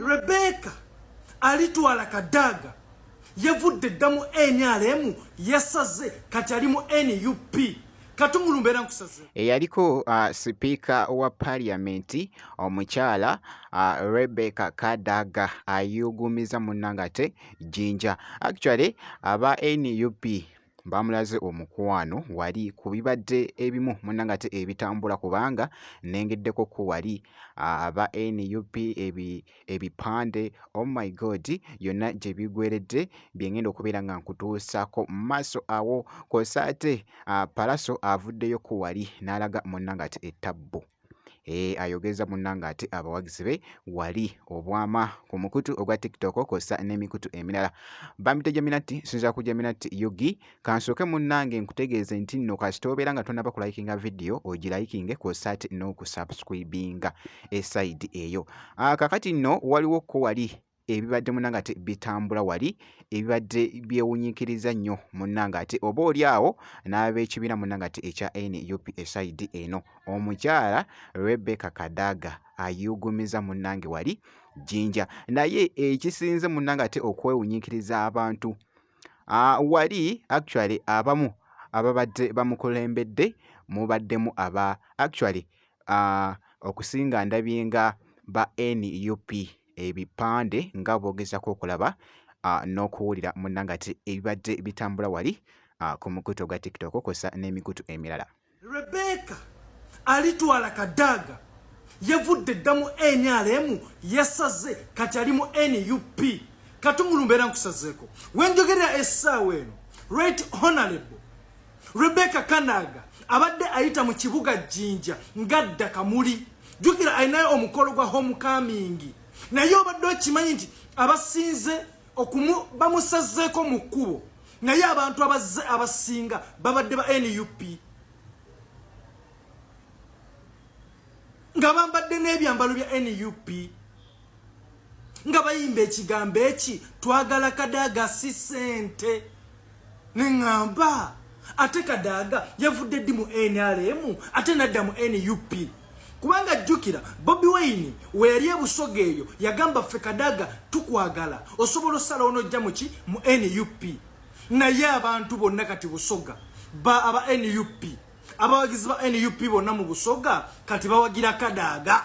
Rebecca alitwala kadaga yavudde dda mu nrm yasaze kati ali mu nup katumulumbera nkusaze eyaliko uh, sipiika wa paliyamenti omukyala uh, rebecca kadaga ayugumiza uh, munnangate jinja actually aba nup baamulaze omukwano wali ku bibadde ebimu munnange ate ebitambula kubanga nengeddeko ko wali aba nup ebipande oh my god yonna gye bigweredde bye ngenda okubeera nga nkutuusaako mu maaso awo kw'ossa ate palaso avuddeyo ko wali n'alaga munnange ate ettabbu Eh, ayogeza munanga ate abawagizi be wali obwama ku mukutu ogwa tiktok kwossa n'emikutu emirala bambidde jaminati sinza ku jaminati yugi kansooke munnange nkutegeeze nti nno kasita obeera nga tonaba kulayikinga vidiyo ogirayikinge kwossa ate n'okusubscribinga esaidi eyo ah, kakati nno waliwo ko wali ebibadde munanga ate bitambula wali ebibadde byewunyikiriza nnyo munanga ate oba oli awo n'ab'ekibiina munanga ate ekya nup esaidi eno omukyala rebecca kadaga ayugumiza munange wali jinja naye ekisinze munanga ate okwewunyikiriza abantu ah, wali actually abamu ababadde bamukulembedde mubaddemu aba actually ah, okusinga ndabyenga ba nup ebipande nga bw'ogezaako okulaba ah, n'okuwulira munnanga ati ebibadde bitambula wali ah, ku mukutu ogwa tiktok kwosa n'emikutu emirala rebeka alitwala kadaaga yavudde dda mu nrm yasaze kati ali mu nup katumulumbeera nkusazeeko wenjogerera essaawa eno right honorable Rebecca Kanaga abadde ayita mu kibuga Jinja ngadda Kamuli jukira alinayo omukolo gwa homecoming naye obadde okimanyi nti abasinze bamusazeeko mu kkubo naye abantu abazze abasinga babadde ba nup nga bambadde n'ebyambalo bya nup nga bayimba ekigambo eki twagala kadaaga si sente neŋamba ate kadaaga yavudde ddi mu nrm ate nadda mu nup kubanga jjukira bobi wayini weyali ebusoga eyo yagamba ffe kadaaga tukwagala osobola osala onojja muki mu nup naye abantu bonna kati busoga ba aba nup abawagizi ba nup bonna mu busoga kati bawagira kadaaga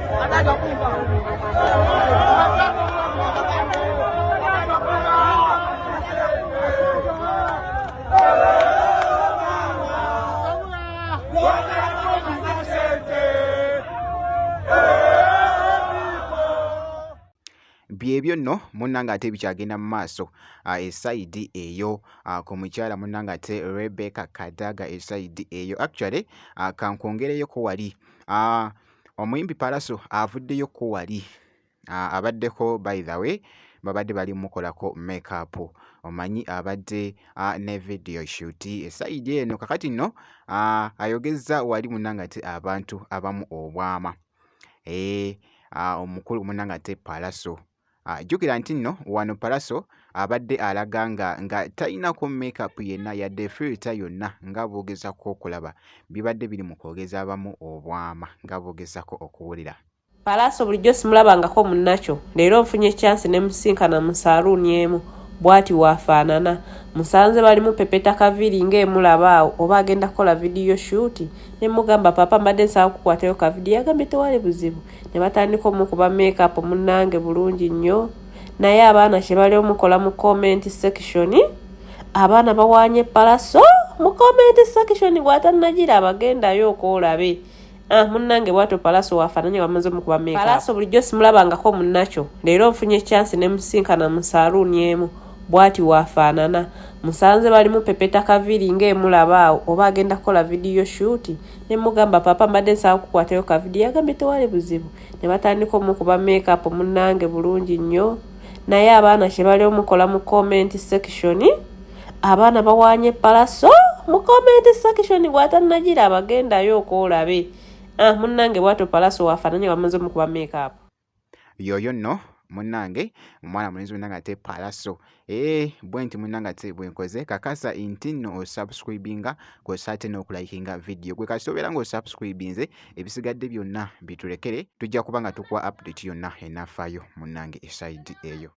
byebyo nno munnanga ate bikyagenda mu maaso ah, esayidi eyo ah, ku mukyala munnanga ate rebecca kadaga esayidi eyo actually ah, kankwongereyoko wali Omuyimbi Pallaso avuddeyo ko wali abaddeko by the way babadde bali mukolako makeup omanyi abadde ne video shoot esayidi eno kakati nno ayogezza wali munanga ati abantu abamu obwama omukulu munanga ate Pallaso Ah, jjukira nti nno wano Pallaso abadde alaga nga nga talinako makeup yenna yadde filter yonna nga boogezako okulaba bibadde biri mu kwogeza abamu obwama nga boogezako okuwulira Pallaso bulijjo simulabangako munnakyo leero nfunye chance ne musinkana mu saluuni emu bwati waafaanana musanze balimu pepeta kaviiri nga emulaba awo oba agenda kukola vidiyo shuuti ne mugamba papa mbadde nsaba kukwatayo kavidiyo yagambye tewali buzibu ne batandika omukuba makeup munnange bulungi nnyo naye abaana kye bali omukola mu comment section abaana bawaanye palaso mu comment section bwatanagira abagendayo okwolabe ah, munnange bwato palaso wafananye wamaze omukuba makeup palaso bulijjo simulabangako munnakyo leero nfunye chance ne musinkana mu saluuni emu bwati wafaanana musanze balimu pepeta kaviri nga emulaba awo oba agenda kukola vidiyo shuuti ne mugamba papa mbadde nsaba kukwatayo ka vidiyo yagambye tewali buzibu ne batandika omukuba makeup munnange bulungi nnyo naye abaana kye bali omukola mu comment section abaana bawanye palaso mu comment section bwatannagira abagendayo okwolabe ah munnange bwato palaso wafananye bamaze omukuba makeup yoyo nno munange omwana mulenzi munange ate palaso ee eh, bwenti munange ate bwenkoze kakasa nti nno osubscribinga kosa ate n'okulayikinga vidiyo gwe kasita obeera nga osubscribinze ebisigadde byonna bitulekere tujja kuba nga tukuwa update yonna enafaayo munange esaidi eyo